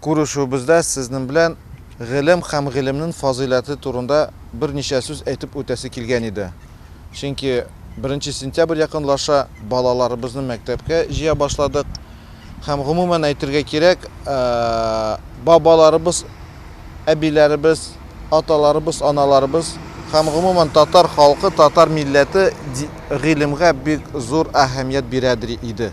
Күрешүебездә сезнең белән гыйлем һәм гыйлемнен фазыйләте турында берничә сүз әйтеп үтәсе килгән иде. Чөнки беренче сентябрь якынлаша, балаларыбызны мәктәпкә җыя башладык. Һәм гомумән әйтергә кирәк, бабаларыбыз, әбиләребез, аталарыбыз, аналарыбыз һәм гомумән татар халкы, татар милләте гыйлемгә бик зур әһәмият бирәдер иде.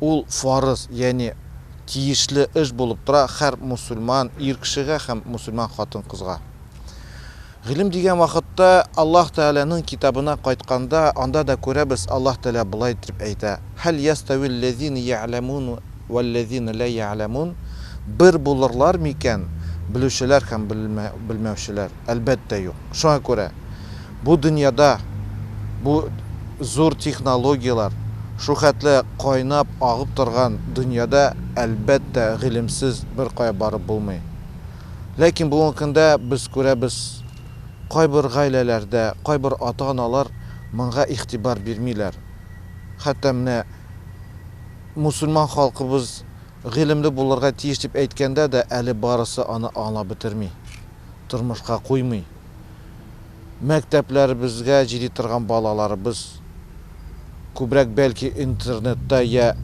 Ул фарыз, ягъни тиешле эш булып тора хәр мусульман ир кешегә һәм мусульман хатын-кызга. Гыйлем дигән вакытта Аллаһ Тәгаләнең китабына кайтканда, анда да күрәбез, Аллаһ Тәгалә болай дип әйтә, Һәл ястәвил ләзина я'ләмун вәл ләзина лә я'ләмун, бер булырлар микән белүчеләр һәм белмәүчеләр? Әлбәттә, юк. Шуңа күрә. Бу дөньяда бу зур технологияләр, шулхәтле кайнап агып торган дөньяда, әлбәттә, гыйлемсез беркая барып булмый. Ләкин бүгенге көндә без күрәбез, кайбер гаиләләрдә, кайбер ата-аналар монга игътибар бирмиләр. Хәтта менә мусульман халкыбыз гыйлемле булырга тиеш дип әйткәндә дә, әле барысы аны аңлап бетерми, тормышка куймый. мәктәпләребезгә җиди торган балаларыбыз күбрәк бәлки интернетта йә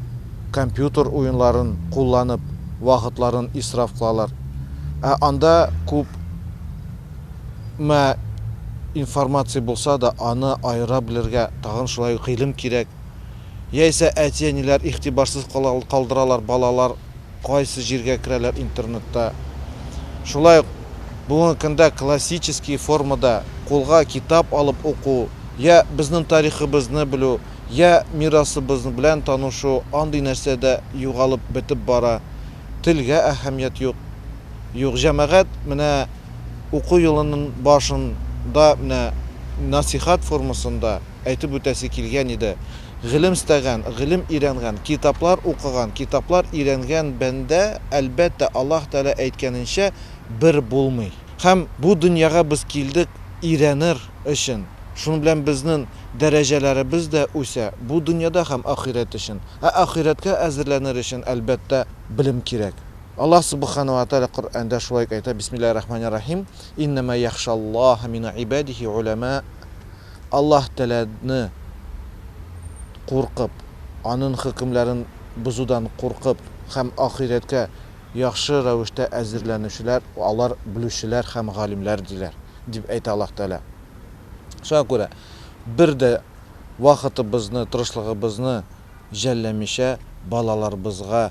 компьютер уенларын кулланып вакытларын исраф кылалар. Ә анда күп мә информация булса да, аны аера белергә тагын шулай ук гыйлем кирәк. Яисә әти-әниләр игътибарсыз калдыралар балалар. Кайсы җиргә керәләр интернетта. Шулай ук бүгенге көндә классический формада кулга китап алып уку, я безнең тарихыбызны белү, я мирасыбыз белән танышу андый нәрсә дә югалып бетеп бара. Телгә әһәмият юк. Юк, җәмәгать менә уку елының башында менә насыйхат формасында әйтеп үтәсе килгән иде. Гыйлем эстәгән, гыйлем өйрәнгән, китаплар укыган, китаплар өйрәнгән бәндә, әлбәттә, Аллаһ Тәгалә әйткәненчә, бер булмый. Һәм бу дөньяга без килдек өйрәнер өчен. Шуның белән безнең дәрәҗәләребез дә үсә, бу дөньяда һәм ахирәт өчен. Ә ахирәткә әзерләнер өчен, әлбәттә, белем кирәк. Аллаһ Субхана ва Тәгалә Коръәндә шулай ук әйтә, Бисмиллаһи рахмани рахим, Иннәмә яхшаллаһа мин гыйбадихи уламә. Аллаһ Тәгаләне куркып, Анын хөкемләрен бозудан куркып һәм ахирәткә яхшы рәвештә әзерләнүчеләр, алар белүчеләр һәм галимләр, диләр, дип әйтә Аллаһ Тәгалә. Шуңа күрә бер дә вакытыбызны, тырышлыгыбызны жәлләмичә, балаларыбызга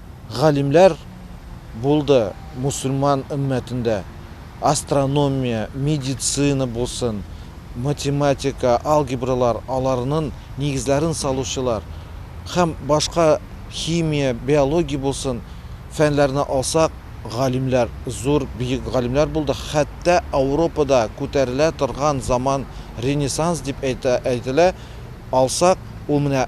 галимләр булды мусульман өммәтендә, астрономия, медицина булсын, математика, алгебралар, аларнын нигезләрен салучылар, һәм башка химия, биология булсын, фәннәрне алсак, галимләр, зур, биек галимләр булды, хәттә Ауропада күтәрелә торган заман ренессанс дип әйтә, әйтелә, алсак, ул менә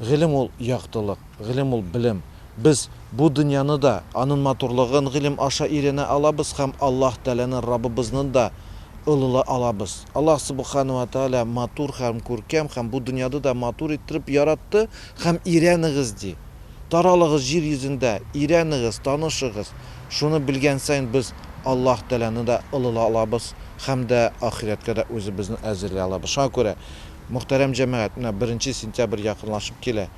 Гыйлем ул яктылык, гыйлем ул белем. Без бу дөньяны да, анын матурлыгын гыйлем аша өйрәнә алабыз һәм Аллаһ Тәгаләнен Рабыбызнын да олылай алабыз. Аллаһ Субхана уа Тәгалә матур һәм күркәм һәм бу дөньяды да матур иттереп яратты һәм өйрәнегез ди. Таралыгыз җир йөзендә, өйрәнегез, танышыгыз. Шуны белгән саен без Аллаһ Тәгаләне дә олылай алабыз һәм дә ахирәткә дә үзебезне әзерли алабыз. Шуңа күрә Мөхтәрәм җәмәгать, менә беренче сентябрь якынлашып килә.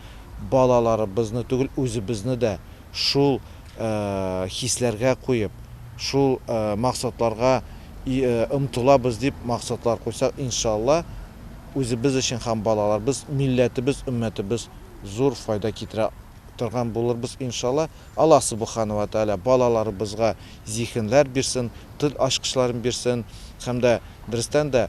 Балаларыбызны түгел, үзебезне дә шул хисләргә куеп, шул максатларга омтылабыз дип максатлар куйсак, иншалла, үзебез өчен һәм балаларыбыз, милләтебез, өммәтебез зур файда китерә торган булырбыз, иншалла. Аллаһ Субхана вә Тәгалә балаларыбызга зиһенләр бирсен, тел ачкычларын бирсен һәм дә берестән дә,